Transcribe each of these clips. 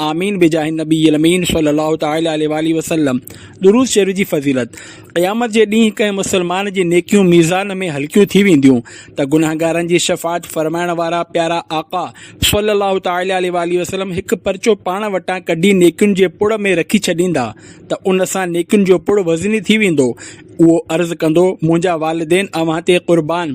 آمين بجاھ النبي الامين صلي الله تعالٰي عليه واٰله وسلم درود شريف جي فضيلت، قيامت جي ڏينهن ڪنهن مسلمان جي نيڪيون ميزان ۾ هلڪيون ٿي وينديون ته گنهگارن جي شفاعت فرمائڻ وارا پيارا آقا صلي الله تعالٰي عليه واٰله وسلم هڪ پرچو پاڻ وٽان ڪڍي نيڪين جي پڙ ۾ رکي ڇڏيندا ته ان سان نيڪين جو پڙ وزني ٿي ويندو اهو عرض ڪندو منهنجا والدين اوهان تي قربان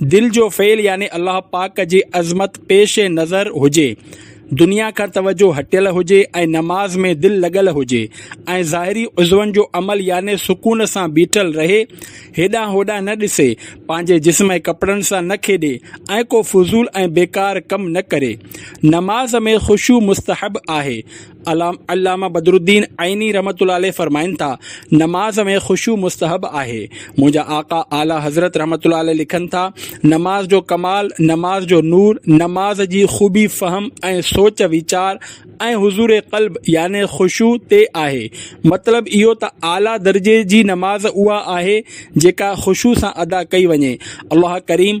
دل جو فعل يعني الله پاڪ جي عظمت پيش نظر هجي، دنيا کان توجه هٽيل هجي ۽ نماز ۾ دل لڳل هجي ۽ ظاهري عضون جو عمل يعني سڪون سان بيٺل رهي، هيڏانهن هوڏانهن نه ڏسي، پنهنجي جسم ۽ ڪپڙن سان نه کيڏي ۽ ڪو فضول ۽ بيڪار ڪم نه ڪري. نماز ۾ خشوع مستحب آهي. علامه بدرالدين عيني رحمة الله عليه فرمائن ٿا، نماز ۾ خشوع مستحب آهي. منهنجا آقا اعليٰ حضرت رحمة الله عليه لکن ٿا، نماز جو ڪمال، نماز جو نور، نماز جي خوبي فهم ۽ سوچ ويچار ۽ حضور قلب يعني خشوع تي آهي. مطلب اهو ته اعليٰ درجي جي نماز اها آهي جيڪا خشوع سان ادا ڪئي وڃي. الله ڪريم!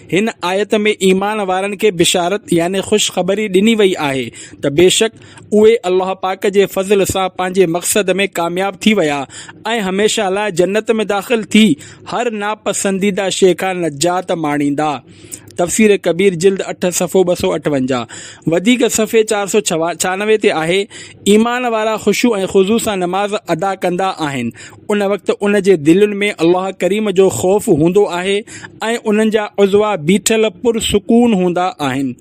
هن آيت ۾ ايمان وارن کي بشارت يعني خوشخبري ڏني وئي آهي ته بيشڪ اهي الله پاڪ جي فضل سان پنهنجي مقصد ۾ ڪامياب ٿي ويا ۽ هميشه لاء جنت ۾ داخل ٿي هر ناپسنديده شيء کان نجات ماڻيندا تفسير ڪبير جلد اٺ صفحو ٻه سؤ اٺونجاهه وڌيڪ صفحي چار سؤ ڇهانوي تي آهي ايمان وارا خشوع ۽ خضوع سان نماز ادا ڪندا آهن ان وقت ان جي دلين ۾ الله ڪريم جو خوف هوندو آهي ۽ انهن جا عضوا بيٺل پر سڪون هوندا آهن.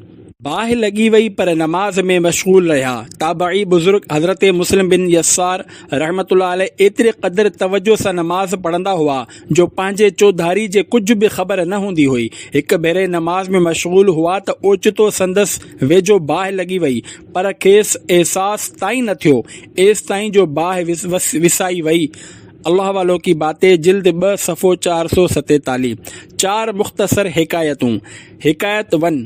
باهه لڳي وئي پر نماز ۾ مشغول رهيا. تابعي بزرگ حضرت مسلم بن يسار رحمة الله عليه ايتري قدر توجه سان نماز پڙهندا هئا جو پنهنجي چوڌاري جي ڪجهه به خبر نه هوندي هئي. هڪ ڀيري نماز ۾ مشغول هئا ته اوچتو سندس ويجهو باهه لڳي وئي. پر کيس احساس تائين نه ٿيو، ايستائين جو باهه وسائي وئي. الله والو ڪي باتين، جلد ٻه، صفحو چار سؤ ستيتاليهه، چار مختصر حڪايتون، حڪايت ون،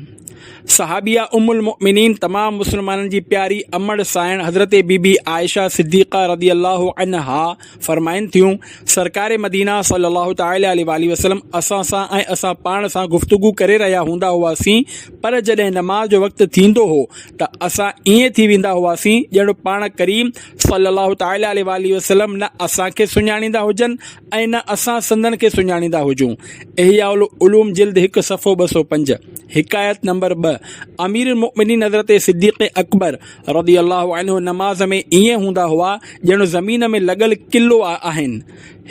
صحابيه ام المؤمنين تمام مسلمانن جي پياري امڙ سانئڻ حضرت بي بي عائشه صديقه رضي الله عنها، فرمائن ٿيون، سرڪار مدينه صلّي اللّٰه تعالٰي عليه واٰله وسلّم اسان سان ۽ اسان پاڻ سان گفتگو ڪري رهيا هوندا هئاسين، پر جڏهن نماز جو وقت ٿيندو هو ته اسان ائين ٿي ويندا هئاسين ڄڻ پاڻ ڪريم صلّي اللّٰه تعالٰي عليه واٰله وسلّم نه اسان کي سڃاڻيندا هجن ۽ نه اسان سندن کي سڃاڻيندا هجون. احياء العلوم جلد هڪ صفحو ٻه سؤ پنج. حڪايت نمبر ٻه، اميرالمؤمنين حضرت صديق اڪبر، رضي الله عنه نماز ۾ ائين هوندا هئا ڄڻ زمين ۾ لڳل قلعو آهن.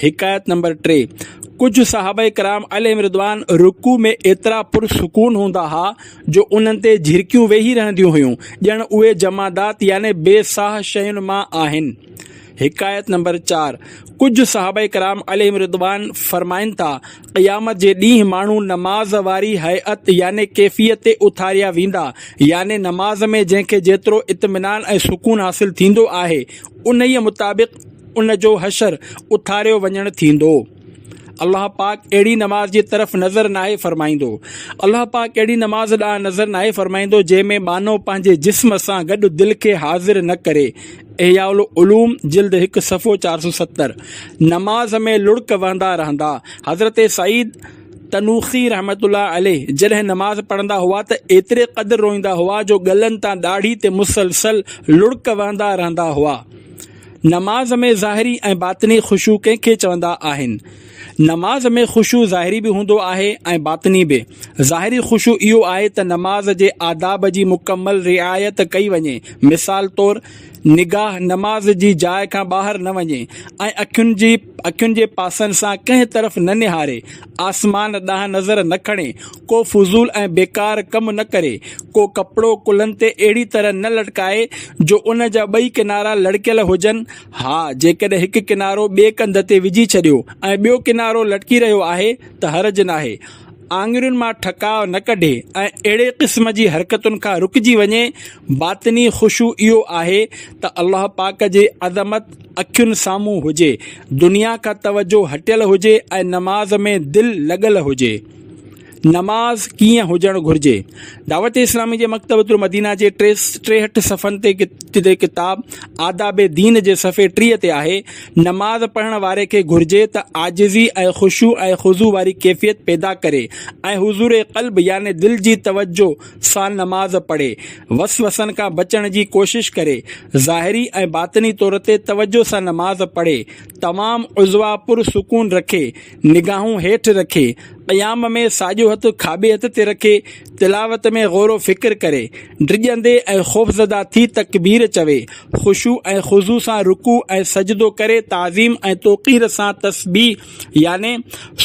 حڪايت نمبر ٽي، ڪجهه صحابه ڪرام عليهم رضوان رڪوع ۾ ايترا پر سڪون هوندا ها جو انهن تي جهرڪيون ويهي رهنديون هيون ڄڻ اهي جمادات يعني بي ساهه شين مان آهن. حڪايت نمبر چار، ڪجهه صحابه ڪرام عليهم رضوان فرمائن ٿا، قيامت جي ڏينهن ماڻهو نماز واري هيئت يعني ڪيفيت تي اٿاريا ويندا يعني نماز ۾ جنهن کي جيترو اطمينان ۽ سڪون حاصل ٿيندو آهي انهيء مطابق ان جو حشر اٿاريو وڃڻ ٿيندو. الله پاڪ اهڙي نماز جي طرف نظر ناهي فرمائيندو. الله پاڪ اهڙي نماز ڏانهن نظر ناهي فرمائيندو جنهن ۾ ٻانهو پنهنجي جسم سان گڏ دل کي حاضر نه ڪري احياء العلوم جلد هڪ صفحو چار سؤ ستر نماز ۾ لڙڪ وهندا رهندا حضرت سعيد تنوخي رحمة الله عليه جڏهن نماز پڙهندا هئا ته ايتري قدر روئيندا هئا جو ڳلن تان ڏاڙهي تي مسلسل لڙڪ وهندا رهندا هئا نماز ۾ ظاهري ۽ باطني خشوع ڪنهن کي چوندا آهن؟ نماز ۾ خشوع ظاهري به هوندو آهي ۽ باطني به. ظاهري خشوع اهو آهي ته نماز جي آداب جي مڪمل رعايت ڪئي وڃي، مثال طور، نگاهه نماز جي جاء کان ٻاهر نه وڃي ۽ اکين جي اکين جي پاسن سان ڪنهن طرف نه نهاري، آسمان ڏانهن نظر نه کڻي، ڪو فضول ۽ بيڪار ڪم نه ڪري، ڪو ڪپڙو ڪلهن تي اهڙي طرح نه لٽڪائي جو ان جا ٻئي ڪنارا لڙڪيل هجن، ها، جيڪڏهن هڪ ڪنارو ٻئي ڪنڌ تي وجهي ڇڏيو ۽ ٻيو ڪنارو لٽڪي رهيو آهي ته حرج ناهي. آڱرين مان ٺڪاء نه ڪڍي ۽ اهڙي قسم جي حرڪتن کان رڪجي وڃي. باطني خشوع اهو آهي ته الله پاڪ جي عظمت اکين سامهون هجي، دنيا کان توجهه هٽيل هجي ۽ نماز ۾ دل لڳل هجي. نماز ڪيئن هجڻ گهرجي؟ دعوت اسلامي جي مڪتبة المدينه جي ٽي ٽيهٺ صفحن تي جي ڪتاب آداب دين جي صفحي ٽيهه تي آهي، نماز پڙهڻ واري کي گهرجي ته عاجزي ۽ خشوع ۽ خضوع واري ڪيفيت پيدا ڪري ۽ حضور قلب يعني دل جي توجهه سان نماز پڙهي، وسوسن کان بچڻ جي ڪوشش ڪري، ظاهري ۽ باطني طور تي توجهه سان نماز پڙهي، تمام عضوا پر سڪون رکي، نگاهون هيٺ رکي، قيام ۾ ساڄو هٿ کاٻي هٿ تي رکي، تلاوت ۾ غور و فڪر ڪري، ڊڄندي ۽ خوفزده ٿي تڪبير چوي، خشوع ۽ خضوع سان رڪوع ۽ سجدو ڪري تعظيم ۽ توقير سان تسبيح يعني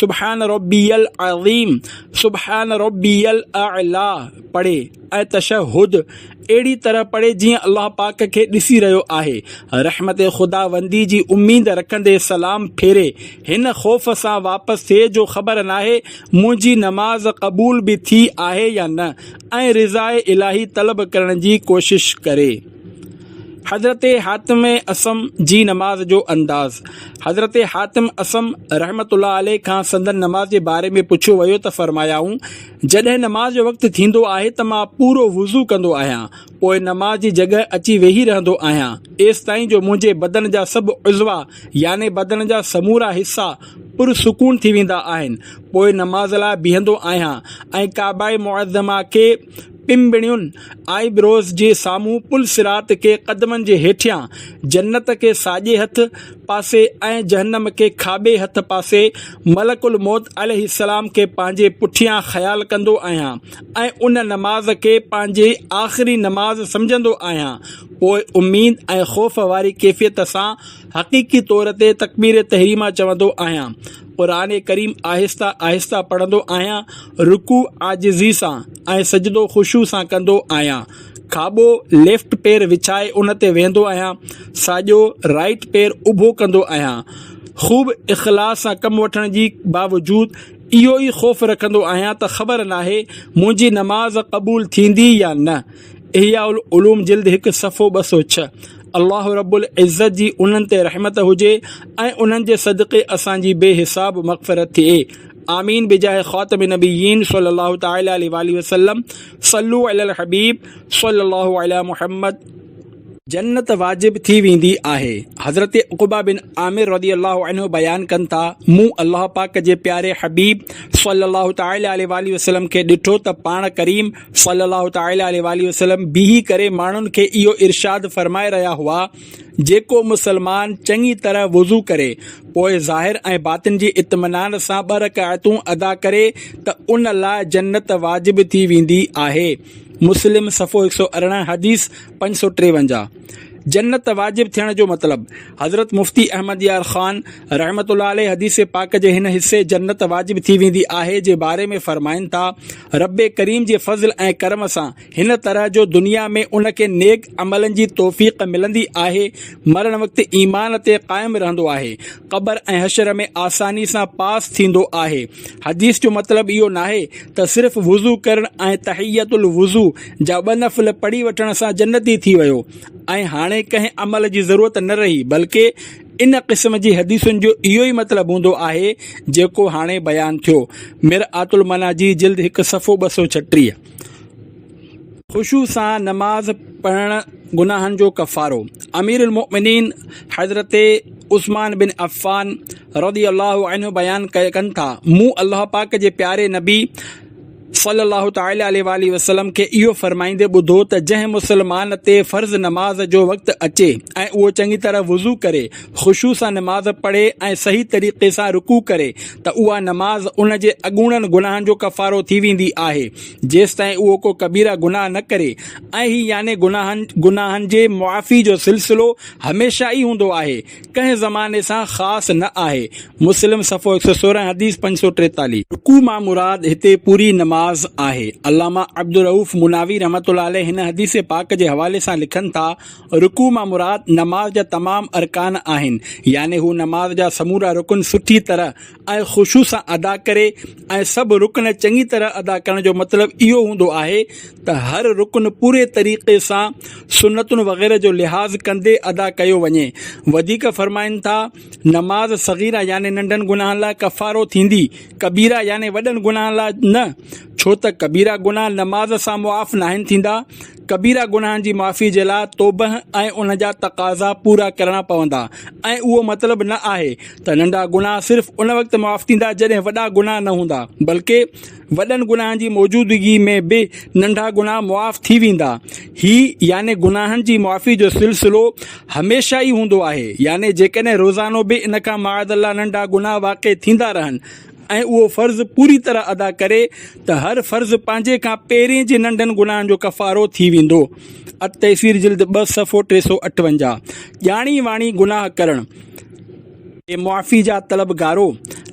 سبحان ربي العظيم، سبحان ربي الاعليٰ پڙهي ۽ تشهد اهڙي طرح پڙهي جيئن الله پاڪ کي ڏسي رهيو آهي. رحمت خداوندي جي اميد رکندي سلام ڦيري هن خوف سان واپس ٿئي جو خبر ناهي منهنجي نماز قبول به ٿي آهي يا نه ۽ رضاء الاهي طلب ڪرڻ جي ڪوشش ڪري. حضرت حاتم اصم جي نماز جو انداز، حضرت حاتم اصم رحمة الله عليه کان سندن نماز جي باري ۾ پڇيو ويو ته فرمايائون، جڏهن نماز جو وقت ٿيندو آهي ته مان پورو وضو ڪندو آهيان پوء نماز جي جڳهه اچي ويهي رهندو آهيان ايستائين جو منهنجي بدن جا سڀ عضوا يعني بدن جا سمورا حصا پر سڪون ٿي ويندا آهن پوء نماز لاء بيهندو آهيان ۽ ڪعبه معظمه کي پنبڻين آئي بروز جي سامهون پل صراط کي قدمن جي هيٺيان، جنت کي ساڄي هٿ پاسي ۽ جهنم کي کاٻي هٿ پاسي، ملڪ الموت عليه السلام کي پنهنجي پٺيان خيال ڪندو آهيان ۽ ان نماز کي پنهنجي آخري نماز سمجهندو آهيان پوء اميد ۽ خوف واري ڪيفيت سان حقيقي طور تي تڪبير تحريمه چوندو آهيان قرآن ڪريم آهسته آهسته پڙهندو آهيان، رڪوع عاجزي سان ۽ سجدو خشوع سان ڪندو آهيان. کاٻو، Left، پير وڇائي ان تي ويهندو آهيان، ساڄو، Right، پير اڀو ڪندو آهيان. خوب اخلاص سان ڪم وٺڻ جي باوجود اهو ئي خوف رکندو آهيان ته خبر ناهي منهنجي نماز قبول ٿيندي يا نه. احياء العلوم جلد هڪ صفحو ٻه سؤ ڇهه. الله رب العزت جي انهن تي رحمت هجي ۽ انهن جي صدقي اسان جي بي حساب مغفرت ٿئي آمين بجاه خاتم النبيين صلي الله تعالٰي عليه واٰله وسلم صلو علي الحبيب صلي الله عليه محمد جنت واجب ٿي ويندي آهي حضرت عقبه بن عامر رضي الله عنه بيان ڪن ٿا مون الله پاڪ جي پياري حبيب صلي الله تعالٰي عليه واٰله وسلم کي ڏٺو ته پاڻ ڪريم صلّي اللّٰه تعالٰي عليه واٰله وسلّم بيهي ڪري ماڻهن کي اهو ارشاد فرمائي رهيا هئا، جيڪو مسلمان چڱي طرح وضو ڪري، پوء ظاهر ۽ باطن جي اطمينان سان ٻه رڪعتون ادا ڪري ته ان لاء جنّت واجب ٿي ويندي آهي. مسلم صفحو هڪ سؤ ارڙهن، حديث پنج سؤ ٽيونجاهه. جنت واجب ٿيڻ جو مطلب، حضرت مفتي احمد يار خان رحمة الله عليه حديث پاڪ جي هن حصي جنت واجب ٿي ويندي آهي جي باري ۾ فرمائن ٿا، ربّ ڪريم جي فضل ۽ ڪرم سان هن طرح جو دنيا ۾ ان کي نيڪ عملن جي توفيق ملندي آهي، مرڻ وقت ايمان تي قائم رهندو آهي، قبر ۽ حشر ۾ آساني سان پاس ٿيندو آهي. حديث جو مطلب اهو ناهي ته صرف وضو ڪرڻ ۽ تحيّة الوضو جا ٻه نفل پڙهي وٺڻ سان جنتي ٿي ويو ۽ هاڻي ڪنهن عمل جي ضرورت نه رهي بلڪه ان قسم جي حديثن جو اهو ئي مطلب هوندو آهي جيڪو هاڻي بيان ٿيو، مرآت المناجي، جلد هڪ، صفحو ٻه سؤ ڇٽيهه. خشوع سان نماز پڙهڻ گناهن جو ڪفارو، اميرالمؤمنين حضرت عثمان بن عفان رضي الله عنه بيان ڪن ٿا، مون الله پاڪ جي پياري نبي صلّي الله تعالٰي عليه واٰله وسلّم کي اهو فرمائيندي ٻڌو ته جنهن مسلمان تي فرض نماز جو وقت اچي ۽ اهو چڱي طرح وضو ڪري، خشوع سان نماز پڙهي ۽ صحيح طريقي سان رڪوع ڪري ته اها نماز ان جي اڳوڻن گناهن جو ڪفارو ٿي ويندي آهي جيستائين اهو ڪو ڪبيره گناهه نه ڪري ۽ هي يعني گناهن گناهن جي معافي جو سلسلو هميشه ئي هوندو آهي ڪنهن زماني سان خاص نه آهي. مسلم صفحو هڪ سؤ سورهن حديث پنج سؤ ٽيتاليهه. رڪوع مان مراد هتي پوري نماز آهي. علامه عبدالرئوف مناوي رحمة الله عليه هن حديث پاڪ جي حوالي سان لکن ٿا، رڪوع مان مراد نماز جا تمام ارڪان آهن، يعني هو نماز جا سمورا رڪن سٺي طرح ۽ خوشو سان ادا ڪري ۽ سڀ رڪن چڱي طرح ادا ڪرڻ جو مطلب اهو هوندو آهي ته هر رڪن پوري طريقي سان سنتن وغيره جو لحاظ ڪندي ادا ڪيو وڃي وڌيڪ فرمائن ٿا نماز صغيره يعني ننڍن گناهن لاء ڪفارو ٿيندي ڪبيره يعني وڏن گناهن لاء نه ڇو ته ڪبيره گناهه نماز سان معاف ناهن ٿيندا ڪبيرا گناهن جي معافي جي لاء توبه ۽ ان جا تقاضا پورا ڪرڻا پوندا ۽ اهو مطلب نه آهي ته ننڍا گناهه صرف ان وقت معاف ٿيندا جڏهن وڏا گناهه نه هوندا بلڪه وڏن گناهن جي موجودگي ۾ به ننڍا گناهه معاف ٿي ويندا هي يعني گناهن جي معافي جو سلسلو هميشه ئي هوندو آهي يعني جيڪڏهن روزانو به ان کان معاذ الله ننڍا گناهه واقع ٿيندا رهن ۽ اهو فرض پوري طرح ادا ڪري ته هر فرض پنهنجي کان پهرين جي ننڍن گناهن جو ڪفارو ٿي ويندو. التيسير جلد ٻه صفحو ٽي سؤ اٺونجاهه. ڄاڻي واڻي گناهه ڪرڻ. اي معافي جا طلبگارو!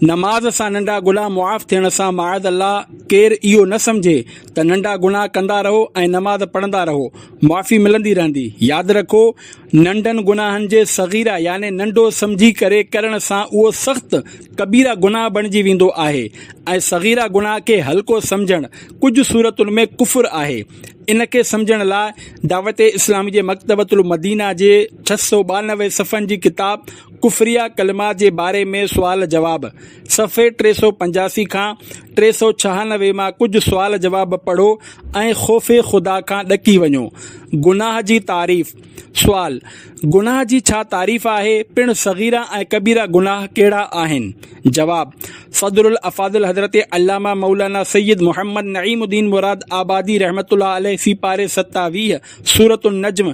نماز سان ننڍا گناهه معاف ٿيڻ سان معاذ الله ڪير اهو نه سمجهي ته ننڍا گناهه ڪندا رهو ۽ نماز پڙهندا رهو، معافي ملندي رهندي. ياد رکو، ننڍن گناهن جي صغيره يعني ننڍو سمجهي ڪري ڪرڻ سان اهو سخت ڪبيره گناهه بڻجي ويندو آهي ۽ صغيره گناهه کي هلڪو سمجهڻ ڪجهه صورتن ۾ ڪفر آهي. ان کي سمجهڻ لاء دعوت اسلامي جي مڪتبة المدينه جي ڇهه سؤ ٻانوي صفحن جي ڪتاب ڪفريه ڪلمات جي باري ۾ سوال جواب صفحي ٽي سؤ پنجاسي کان ٽي سؤ ڇهانوي مان ڪجهه سوال جواب پڙهو ۽ خوف خدا کان ڏڪي وڃو. گناهه جي تعريف سوال، گناهه جي ڇا تعريف آهي؟ پڻ صغيره ۽ ڪبيره گناهه ڪهڙا آهن؟ جواب، صدر الافاضل حضرت علامه مولانا سيد محمد نعيم الدين مراد آبادي رحمة الله عليه سي پاري ستاويهه، سورة النجم،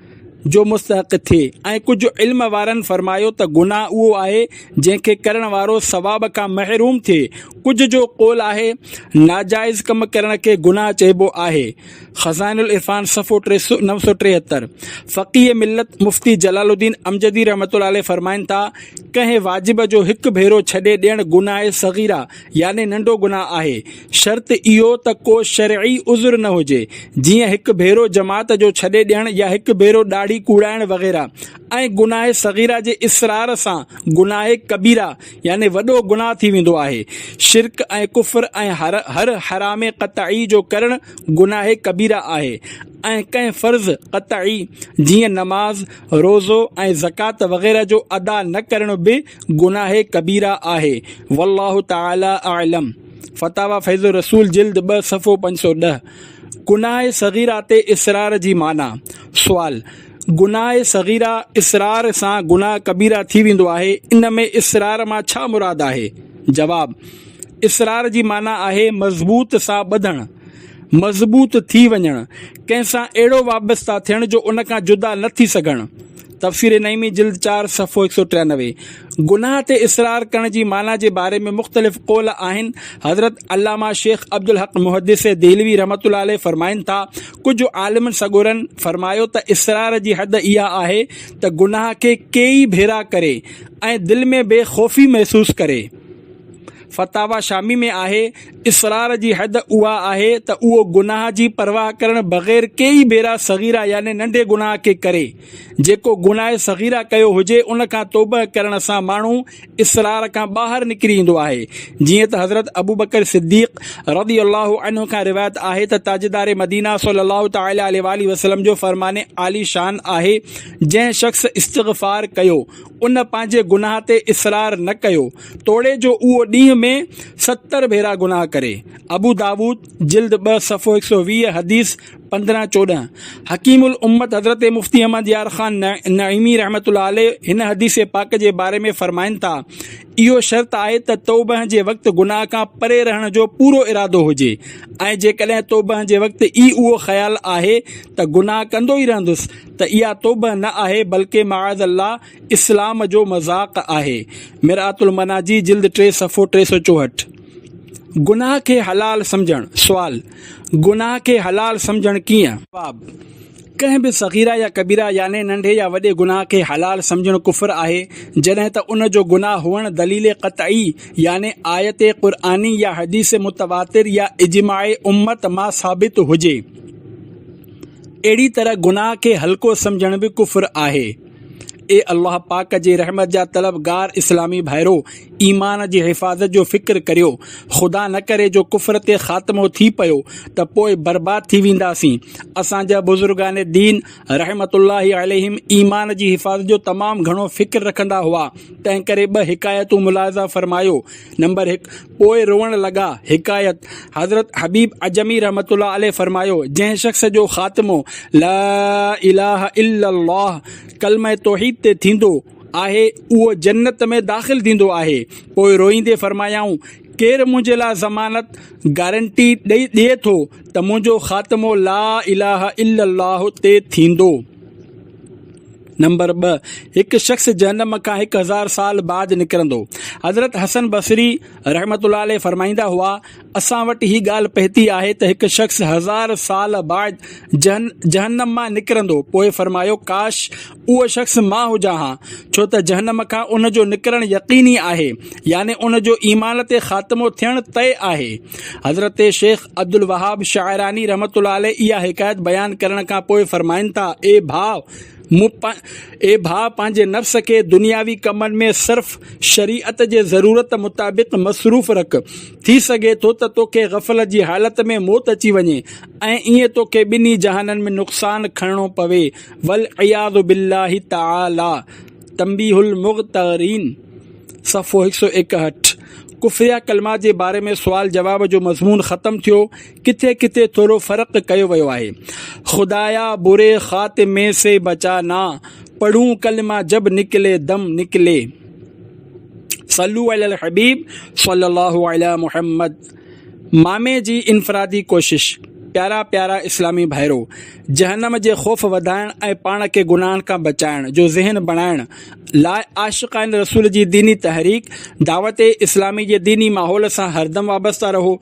جو مستحق ٿئي ۽ ڪجهه علم وارن فرمايو ته گناهه اهو آهي جنهن کي ڪرڻ وارو ثواب کان محروم ٿئي ڪجهه جو قول آهي ناجائز ڪم ڪرڻ کي گناهه چئبو آهي خزائن العرفان صفحو نو سؤ ٽيهتر فقيه ملت مفتي جلال الدين امجدي رحمة الله عليه فرمائن ٿا ڪنهن واجب جو هڪ ڀيرو ڇڏي ڏيڻ گناهه صغيره يعني ننڍو گناهه آهي، شرط اهو ته ڪو شرعي عذر نه هجي، جيئن هڪ ڀيرو جماعت جو ڇڏي ڏيڻ يا هڪ ڀيرو ڏاڙهي ڪوڙائڻ وغيره ۽ گناهه صغيره جي اصرار سان گناهه ڪبيره يعني وڏو گناهه ٿي ويندو آهي، شرڪ ۽ ڪفر ۽ هر حرام قطعي جو ڪرڻ گناهه ڪبيره آهي ۽ ڪنهن فرض قطعي جيئن نماز، روزو ۽ زڪوات وغيره جو ادا نه ڪرڻ به گناهه ڪبيره آهي والله تعالي اعلم فتاويٰ فيض الرسول جلد ٻه صفحو پنج سؤ ڏهه گناهه صغيره تي اصرار جي معنيٰ، سوال، گناهه صغيره اصرار سان گناهه ڪبيره ٿي ويندو آهي ان ۾ اصرار مان ڇا مراد آهي؟ جواب، اصرار جي معنيٰ آهي مضبوط سان ٻڌڻ، مضبوط ٿي وڃڻ، ڪنهن سان اهڙو وابسته ٿيڻ جو ان کان جدا نه ٿي سگهڻ. تفسير نعيمي جلد چار صفحو هڪ سؤ ٽيانوي. گناهه تي اصرار ڪرڻ جي معنيٰ جي باري ۾ مختلف قول آهن، حضرت علامه شيخ عبدالحق محدث دهلوي رحمة الله عليه فرمائن ٿا، ڪجهه عالمن سڳورن فرمايو ته اصرار جي حد اها آهي ته گناهه کي ڪيئي ڀيرا ڪري ۽ دل ۾ بي خوفي محسوس ڪري. فتاويٰ شامي ۾ آهي. اصرار جي حد اها آهي ته اهو گناهه جي پرواهه ڪرڻ بغير ڪيئي ڀيرا صغيره يعني ننڍي گناهه کي ڪري. جيڪو گناهه صغيره ڪيو هجي ان کان توبهه ڪرڻ سان ماڻهو اصرار کان ٻاهر نڪري ايندو آهي. جيئن ته حضرت ابوبڪر صديق رضي الله عنه کان روايت آهي ته تاجدار مدينه صلّي الله تعالٰي عليه واٰله وسلّم جو فرمان عالي شان آهي جنهن شخص استغفار ڪيو ان پنهنجي گناهه تي اصرار نه ڪيو توڙي جو اهو ڏينهن ۾ ستر ڀيرا گناهه ڪري. ابو داؤد، جلد ٻه صفحو هڪ سؤ ويهه حديث پندرهن چوڏهن، حڪيم الامت حضرت مفتي احمد يار خان نعيمي رحمة الله عليه هن حديث پاڪ جي باري ۾ فرمائن ٿا، اهو شرط آهي ته توبهه جي وقت گناهه کان پري رهڻ جو پورو ارادو هجي ۽ جيڪڏهن توبهه جي وقت ئي اهو خيال آهي ته گناهه ڪندو ئي رهندس ته اها توبهه نه آهي بلڪه معاذ الله اسلام جو مذاق آهي مرآت المناجي جلد ٽي صفحو ٽي سؤ چوهٺ گناهه کي حلال سمجهڻ سوال گناهه کي حلال سمجهڻ ڪيئن؟ جواب، ڪنهن به صغيره يا ڪبيره يعني ننڍي يا وڏي گناهه کي حلال سمجهڻ ڪفر آهي جڏهن ته ان جو گناهه هئڻ دليل قطعي يعني آيت قرآني يا حديث متواتر يا اجماع امت مان ثابت هجي اهڙي طرح گناهه کي هلڪو سمجهڻ به ڪفر آهي. اي الله پاڪ جي رحمت جا طلبگار اسلامي ڀائرو! ايمان جي حفاظت جو فڪر ڪريو. خدا نه ڪري جو ڪفر تي خاتمو ٿي پيو ته پوء برباد ٿي وينداسين. اسان جا بزرگان دين رحمة الله عليهم ايمان جي حفاظت جو تمام گهڻو فڪر رکندا هئا. تنهنڪري ٻه حڪايتون ملاحظه فرمايو، نمبر هڪ، پوء روئڻ لڳا. حڪايت، حضرت حبيب عجمي رحمة الله عليه فرمايو، جنهن شخص جو خاتمو لا اله الا الله ڪلمه توحيد تي ٿيندو آهي اهو جنت ۾ داخل ٿيندو آهي. پوء روئيندي فرمايائون، ڪير منهنجي لاء ضمانت، گارنٽي، ڏئي ٿو ته منهنجو خاتمو لا اله الا الله تي ٿيندو؟ نمبر ٻه، هڪ شخص جهنم کان هڪ هزار سال بعد نڪرندو. حضرت حسن بصري رحمة الله عليه فرمائيندا هئا، اسان وٽ هي ڳالهه پهتي آهي ته هڪ شخص هزار سال بعد جهنم مان نڪرندو، پوء فرمايو، ڪاش! اهو شخص مان هجان ها، ڇو ته جهنم کان ان جو نڪرڻ يقيني آهي، يعني ان جو ايمان تي خاتمو ٿيڻ طئي آهي. حضرت شيخ عبدالوهاب شاعراني رحمة الله عليه اها حڪايت بيان ڪرڻ کان پوء فرمائن ٿا، اي ڀاء! مون پ اي ڀاء پنهنجي نفس کي دنياوي ڪمن ۾ صرف شريعت جي ضرورت مطابق مصروف رک ٿي سگهي ٿو ته توکي غفلت جي حالت ۾ موت اچي وڃي ۽ ائين توکي ٻنهي جهانن ۾ نقصان کڻڻو پوي والعياذ بالله تعالي تنبيه المغترين صفحو هڪ سؤ ايڪهٺ ڪفريا ڪلمات جي باري ۾ سوال جواب جو مضمون ختم ٿيو ڪٿي ڪٿي ٿورو فرق ڪيو ويو آهي. خدايا بري خاتمي سي بچا نا پڙهون ڪلمه جب نڪلي دم نڪلي صلو علي الحبيب صلي الله علي محمد مامي جي انفرادي ڪوشش پيارا پيارا اسلامي ڀائرو جهنم جي خوف وڌائڻ ۽ پاڻ کي گناهن کان بچائڻ جو ذهن بڻائڻ لاء عاشقان رسول جي ديني تحريڪ دعوت اسلامي جي ديني ماحول سان هردم وابسته رهو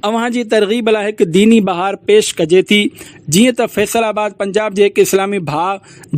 اوهان جي ترغيب لاء هڪ ديني بهار پيش ڪجي ٿي جيئن ته فيصل آباد پنجاب جي هڪ اسلامي ڀاء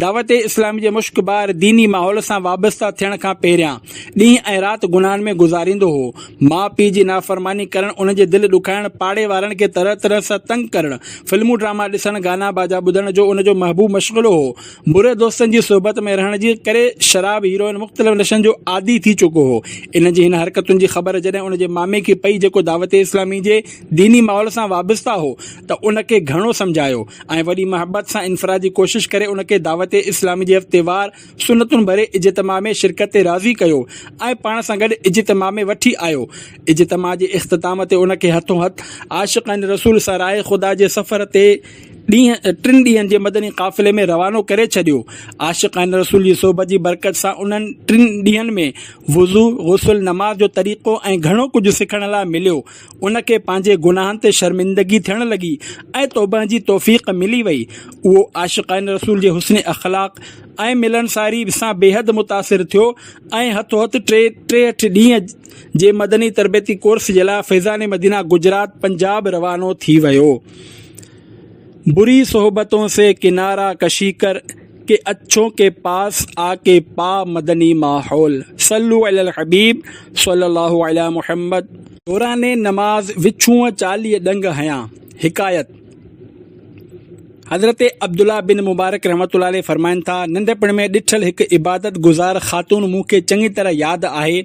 دعوت اسلامي جي مشڪبار ديني ماحول سان وابسته ٿيڻ کان پهريان ڏينهن ۽ رات گناهن ۾ گذاريندو هو ماء پيء جي نافرماني ڪرڻ انهن جي دل ڏکائڻ پاڙي وارن کي طرح طرح سان تنگ ڪرڻ فلمون ڊراما ڏسڻ گانا باجا ٻڌڻ جو ان جو محبوب مشغلو هو بري دوستن جي صحبت ۾ رهڻ جي ڪري شراب هيروئن مختلف نشن جو عادي ٿي چڪو هو ان جي هن حرڪتن جي خبر جڏهن ان جي مامي کي پئي جيڪو دعوت اسلامي جي ديني ماحول سان وابسته هو ته ان کي گهڻو سمجهايو ۽ وڏي محبت سان انفرادي ڪوشش ڪري ان کي دعوت اسلامي جي هفتيوار سنتن ڀري اجتماع ۾ شرڪت تي راضي ڪيو ۽ پاڻ سان گڏ اجتماع ۾ وٺي آيو اجتماع جي اختتام تي ان کي هٿون هٿ عاشقان رسول سان راهي خدا جي سفر تي ڏينهن ٽن ڏينهن جي مدني قافلي ۾ روانو ڪري ڇڏيو. عاشقان رسول جي صحبت جي برڪت سان انهن ٽن ڏينهن ۾ وضو، غسل، نماز جو طريقو ۽ گهڻو ڪجهه سکڻ لاء مليو. ان کي پنهنجي گناهن تي شرمندگي ٿيڻ لڳي ۽ توبه جي توفيق ملي وئي. اهو عاشقان رسول جي حسن اخلاق ۽ ملنساري سان بيحد متاثر ٿيو ۽ هٿو هٿ ٽي ٽيهٺ ڏينهن جي مدني تربيتي ڪورس جي لاء فيضان مدينه گجرات، پنجاب، روانو ٿي ويو. بري صحبتون سي ڪنارا ڪشي ڪر ڪي اڇون ڪي پاس آ ڪي پا مدني ماحول صلو علي الحبيب صلي الله علي محمد دوران نماز وڇونء چاليهه ڏنگ هنيا حڪايت، حضرت عبدالله بن مبارڪ رحمة الله عليه فرمائن ٿا، ننڍپڻ ۾ ڏٺل هڪ عبادت گذار خاتون مون کي چڱي طرح ياد آهي،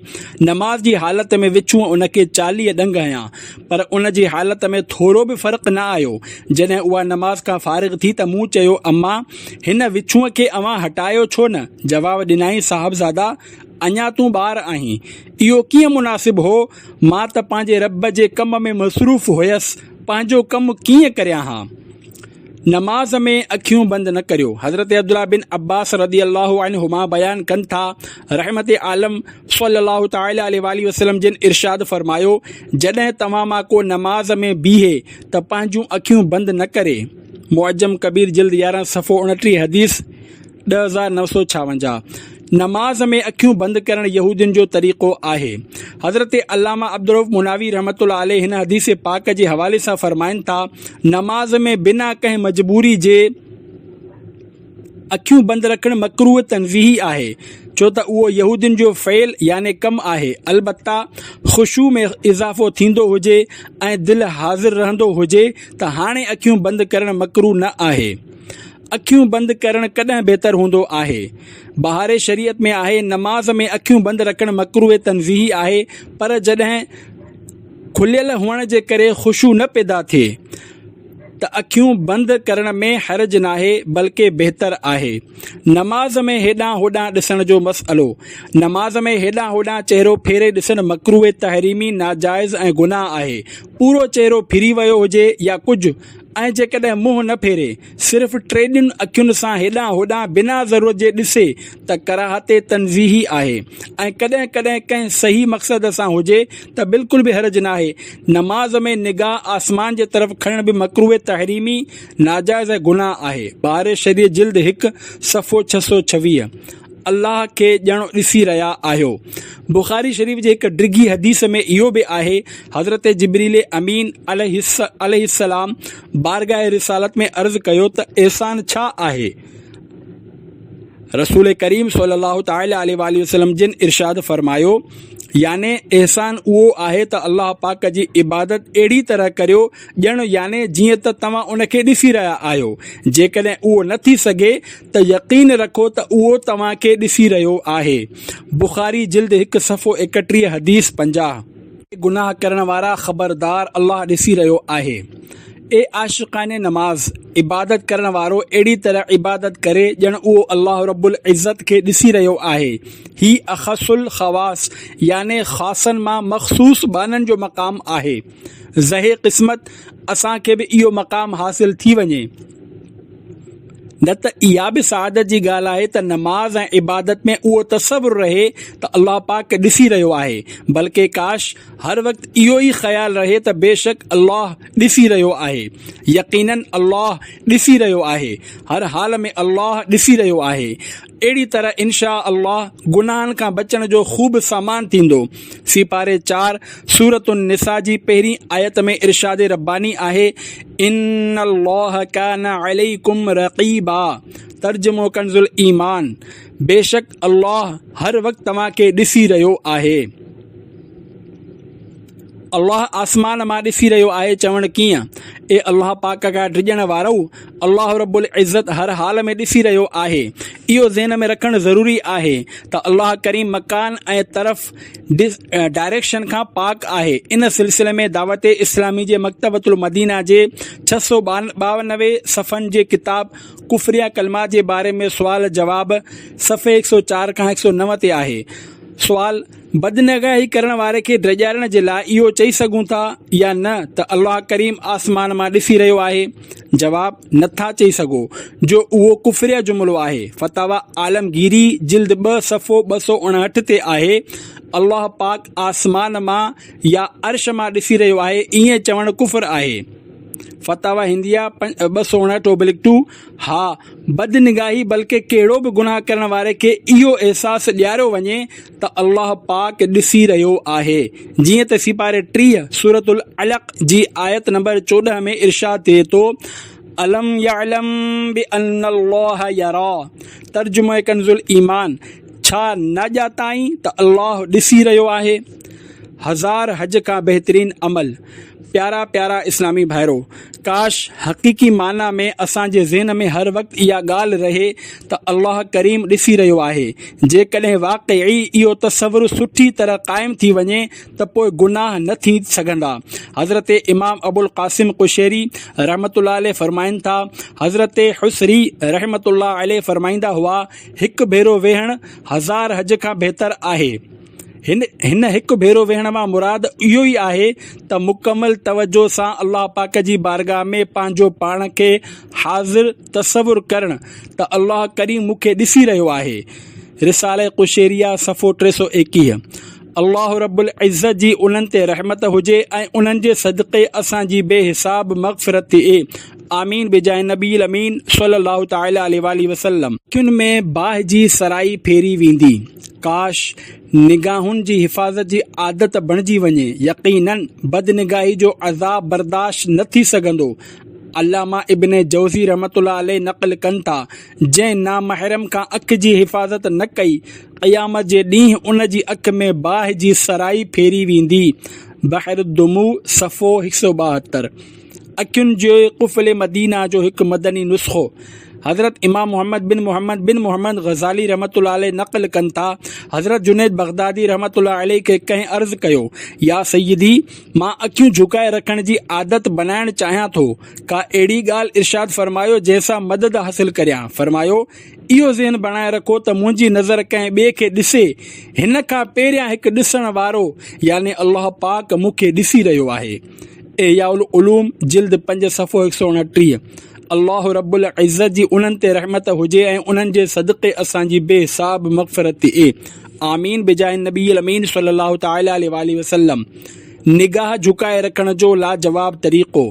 نماز جي حالت ۾ وڇونء ان کي چاليهه ڏنگ هنيا، پر ان جي حالت ۾ ٿورو به فرق نه آيو. جڏهن اها نماز کان فارغ ٿي ته مون چيو، اما! هن وڇونء کي اوهان هٽايو ڇو نه؟ جواب ڏنائين، صاحبزادا! اڃا تون ٻار آهين. اهو ڪيئن مناسب هو؟ مان ته پنهنجي رب جي ڪم ۾ مصروف هيس، پنهنجو ڪم ڪيئن ڪريان ها؟ نماز ۾ اکيون بند نه ڪريو، حضرت عبدالله بن عباس رضي الله عنهما بيان ڪن ٿا، رحمت عالم صلّي الله تعالٰي عليه واٰله وسلّم جن ارشاد فرمايو، جڏهن توهان مان ڪو نماز ۾ بيهي ته پنهنجون اکيون بند نه ڪري، معجم ڪبير جلد يارهن صفحو اڻٽيهه حديث، ڏهه هزار نو سؤ ڇاونجاهه، نماز ۾ اکيون بند ڪرڻ يهودين جو طريقو آهي. حضرت علامه عبدالرؤف مناوي رحمة الله عليه هن حديث پاڪ جي حوالي سان فرمائن ٿا، نماز ۾ بنا ڪنهن مجبوري جي اکيون بند رکڻ مڪروه تنزيهي آهي، ڇو ته اهو يهودين جو فعل يعني ڪم آهي، البته خشوع ۾ اضافو ٿيندو هجي ۽ دل حاضر رهندو هجي ته هاڻي اکيون بند ڪرڻ مڪروه نه آهي. اکيون بند ڪرڻ ڪڏهن بهتر هوندو آهي؟ بهاري شريعت ۾ آهي نماز ۾ اکيون بند رکڻ مڪروه تنزيهي آهي پر جڏهن کليل هئڻ جي ڪري خشوع نه پيدا ٿئي ته اکيون بند ڪرڻ ۾ حرج ناهي بلڪه بهتر آهي. نماز ۾ هيڏانهن هوڏانهن ڏسڻ جو مسئلو، نماز ۾ هيڏانهن هوڏانهن چهرو ڦيري ڏسڻ مڪروه تحريمي، ناجائز ۽ گناهه آهي. پورو چهرو ڦري ويو هجي يا ڪجهه ۽ جيڪڏهن منهن نه ڦيري، صرف ٽيڏن اکين سان هيڏانهن هوڏانهن بنا ضرورت جي ڏسي ته ڪراهت تنزيهي آهي ۽ ڪڏهن ڪڏهن ڪنهن صحيح مقصد سان هجي ته بلڪل به حرج ناهي. نماز ۾ نگاهه آسمان جي طرف کڻڻ به مڪروه تحريمي، ناجائز ۽ گناهه، آهي، باري شريعت جلد هڪ صفحو ڇهه سؤ ڇويهه، الله کي ڄڻو ڏسي رهيا آهيو. بخاري شريف جي هڪ ڊگهي حديث ۾ اهو به آهي، حضرت جبريل امين عليه السلام، بارگاهه رسالت ۾ عرض ڪيو ته احسان ڇا آهي؟ رسول ڪريم صلي الله تعالي عليه واٰله وسلم جن ارشاد فرمايو، يعني احسان اهو آهي ته الله پاڪ جي عبادت اهڙي طرح ڪريو ڄڻ يعني جيئن ته توهان ان کي ڏسي رهيا آهيو، جيڪڏهن اهو نه ٿي سگهي ته يقين رکو ته اهو توهان کي ڏسي رهيو آهي. بخاري جلد هڪ صفحو ايڪٽيهه حديث پنجاهه. اي گناهه ڪرڻ وارا خبردار الله ڏسي رهيو آهي. اي عاشقان نماز! عبادت ڪرڻ وارو اهڙي طرح عبادت ڪري ڄڻ اهو الله رب العزت کي ڏسي رهيو آهي. هي اخص الخواص يعني خاصن مان مخصوص ٻانهن جو مقام آهي. زهي قسمت اسان کي به اهو مقام حاصل ٿي وڃي. نه ته اها به سعادت جي ڳالهه آهي ته نماز ۽ عبادت ۾ اهو تصور رهي ته الله پاڪ ڏسي رهيو آهي بلڪه ڪاش هر وقت اهو ئي خيال رهي ته بيشڪ الله ڏسي رهيو آهي يقيناً الله ڏسي رهيو آهي هر حال ۾ الله ڏسي رهيو آهي اهڙي طرح انشاء الله گناهن کان بچڻ جو خوب سامان ٿيندو. سيپاري چار، سورة النساء جي پهرين آيت ۾ ارشاد رباني آهي، ان الله ڪان عليڪم رقيبا، ترجمو ڪنزالايمان، بيشڪ الله هر وقت توهان کي ڏسي رهيو آهي. الله آسمان مان ڏسي رهيو آهي چوڻ ڪيئن؟ اي الله پاڪ کان ڊڄڻ وارؤ! الله رب العزت هر حال ۾ ڏسي رهيو آهي. اهو ذهن ۾ رکڻ ضروري آهي ته الله ڪريم مڪان ۽ طرف، Direction، کان پاڪ آهي. ان سلسلي ۾ دعوت اسلامي جي مڪتبة المدينه جي ڇهه سؤ ٻانوي صفحن جي ڪتاب ڪفريا ڪلمات جي باري ۾ سوال جواب صفحي هڪ سؤ چار کان هڪ سؤ نو تي آهي. سوال. بدنگاهي ڪرڻ واري کي ڊيڄارڻ جي لاء اهو چئي سگهون ٿا يا نه ته الله ڪريم آسمان مان ڏسي رهيو آهي؟ جواب، نه ٿا چئي سگهو جو اهو ڪفريه جملو آهي. فتاويٰ عالمگيري جلد ٻه صفحو ٻه سؤ اڻهٺ تي آهي، الله پاڪ آسمان مان يا عرش مان ڏسي رهيو آهي ائين چوڻ ڪفر آهي. فتاويٰ هنديه ٻه سؤ اڻهٺ اوبلڪ ٽو، ها بدنگاهي بلڪه ڪهڙو به گناهه ڪرڻ واري کي اهو احساس ڏياريو وڃي ته الله پاڪ ڏسي رهيو آهي، جيئن ته سيپاري ٽيهه سورة العلق جي آيت نمبر چوڏهن ۾ ارشاد ٿئي ٿو، الم يعلم بأن الله يرا، ترجمه ڪنزالايمان، ڇا نه ڄاتائين ته الله ڏسي رهيو آهي؟ هزار حج کان بهترين عمل. پيارا پيارا اسلامي ڀائرو! ڪاش حقيقي معنيٰ ۾ اسان جي ذهن ۾ هر وقت اها ڳالهه رهي ته الله ڪريم ڏسي رهيو آهي. جيڪڏهن واقعي اهو تصور سٺي طرح قائم ٿي وڃي ته پوء گناهه نه ٿي سگهندا. حضرت امام ابوالقاسم قشيري رحمة الله عليه فرمائن ٿا، حضرت حصري رحمة الله عليه فرمائيندا هئا، هڪ ڀيرو ويهڻ هزار حج کان بهتر آهي. هن هڪ ڀيرو ويهڻ مان مراد اهو ئي آهي ته مڪمل توجه سان الله پاڪ جي بارگاهه ۾ پنهنجو پاڻ کي حاضر تصور ڪرڻ ته الله ڪريم مون کي ڏسي رهيو آهي رساله قشيريه صفحو ٽي سؤ ايڪيهه الله رب العزت جي انهن تي رحمت هجي ۽ انهن جي صدقي اسان جي بي حساب مغفرت ٿئي آمين بجاء نبي الامين صلي الله تعالي عليه واٰله وسلم. اکين ۾ باھ جي سرائي ڦيري ويندي. ڪاش! نگاهن جي حفاظت جي عادت بڻجي وڃي. يقيناً بدنگاهي جو عذاب برداشت نه ٿي سگهندو. علامه ابن جوزي رحمة الله عليه نقل ڪن ٿا، جنهن نامحرم کان اک جي حفاظت نه ڪئي، قيامت جي ڏينهن ان جي اک ۾ باھ جي سرائي ڦيري ويندي. بحر الدموع، صفحو هڪ سؤ ٻاهتر. اکين جي قفل مدينه جو هڪ مدني نسخو حضرت امام محمد بن محمد بن محمد غزالي رحمت الله عليه نقل ڪن ٿا حضرت جنيد بغدادي رحمت الله عليه کي ڪنهن عرض ڪيو يا سيدي مان اکيون جهڪائي رکڻ جي عادت بنائڻ چاهيان ٿو ڪا اهڙي ڳالهه ارشاد فرمايو جنهن سان مدد حاصل ڪريان فرمايو اهو ذهن بڻائي رکو ته منهنجي نظر ڪنهن ٻئي کي ڏسي هن کان پهريان هڪ ڏسڻ وارو يعني الله پاڪ مون کي ڏسي رهيو آهي احياء العلوم جلد پنج صفحو هڪ سؤ اڻٽيهه الله رب العزت جي انهن تي رحمت هجي ۽ انهن جي صدقي اسان جي بي حساب مغفرت ٿئي آمين بجاه النبي الامين صلي الله تعالي عليه واٰله وسلم نگاهه جهڪائي رکڻ جو لاجواب طريقو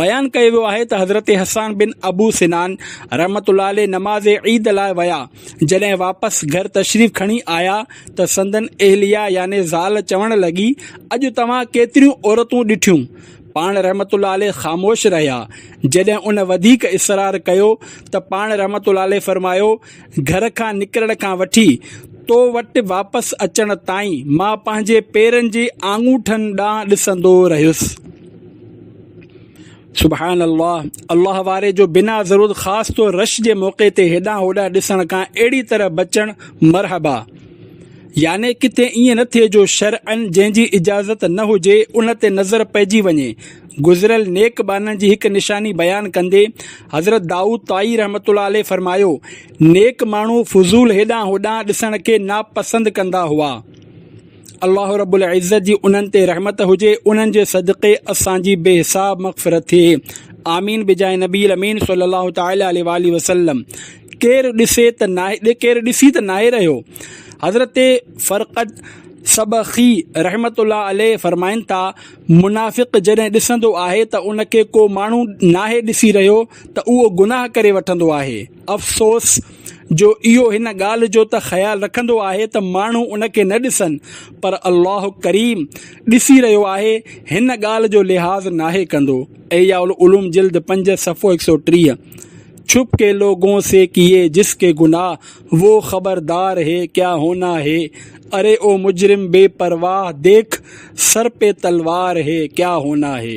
بيان ڪيو ويو آهي ته حضرت حسان بن ابو سنان رحمة الله عليه نماز عيد لاء ويا جڏهن واپس گهر تشريف کڻي آيا ته سندن اهليا يعني زال چوڻ لڳي، اڄ توهان ڪيتريون عورتون ڏٺيون؟ پاڻ رحمت الله عليه خاموش رهيا. جڏهن ان وڌيڪ اصرار ڪيو ته پاڻ رحمت الله عليه فرمايو، گهر کان نڪرڻ کان وٺي تو وٽ واپس اچڻ تائين مان پنهنجي پيرن جي آڱوٺن ڏانهن ڏسندو رهيس. سبحان الله الله واري جو بنا ضرورت خاص طور رش جي موقعي تي هيڏانهن هوڏانهن ڏسڻ کان اهڙي طرح بچڻ مرحبا يعني ڪٿي ائين نه ٿئي جو شرعن جنهن جي اجازت نه هجي ان تي نظر پئجي وڃي گذريل نيڪ ٻانهن جي هڪ نشاني بيان ڪندي حضرت دائود طائي رحمت الله عليه فرمايو نيڪ ماڻهو فضول هيڏانهن هوڏانهن ڏسڻ کي ناپسند ڪندا هئا الله رب العزت جي انهن تي رحمت هجي انهن جي صدقي اسان جي بي حساب مغفرت ٿئي آمين بجاء نبي الامين صلي الله تعالي عليه واله وسلم ڪير ڏسي ته ناهي ڪير ڏسي ته ناهي رهيو حضرت فرقد سبخي رحمت الله عليه فرمائن ٿا منافق جڏهن ڏسندو آهي ته ان کي ڪو ماڻهو ناهي ڏسي رهيو ته اهو گناهه ڪري وٺندو آهي افسوس جو اهو هن ڳالهه جو ته خيال رکندو آهي ته ماڻهو ان کي نه ڏسن پر الله ڪريم ڏسي رهيو آهي هن ڳالهه جو لحاظ ناهي ڪندو احياء العلوم جلد پنج صفحو هڪ سؤ ٽيهه ڇپ ڪي لوگون سي ڪيي جس ڪي گناهه وو خبردار هي ڪيا هونا هي اري او مجرم بي پرواهه ديک سر پي تلوار هي ڪيا هونا هي.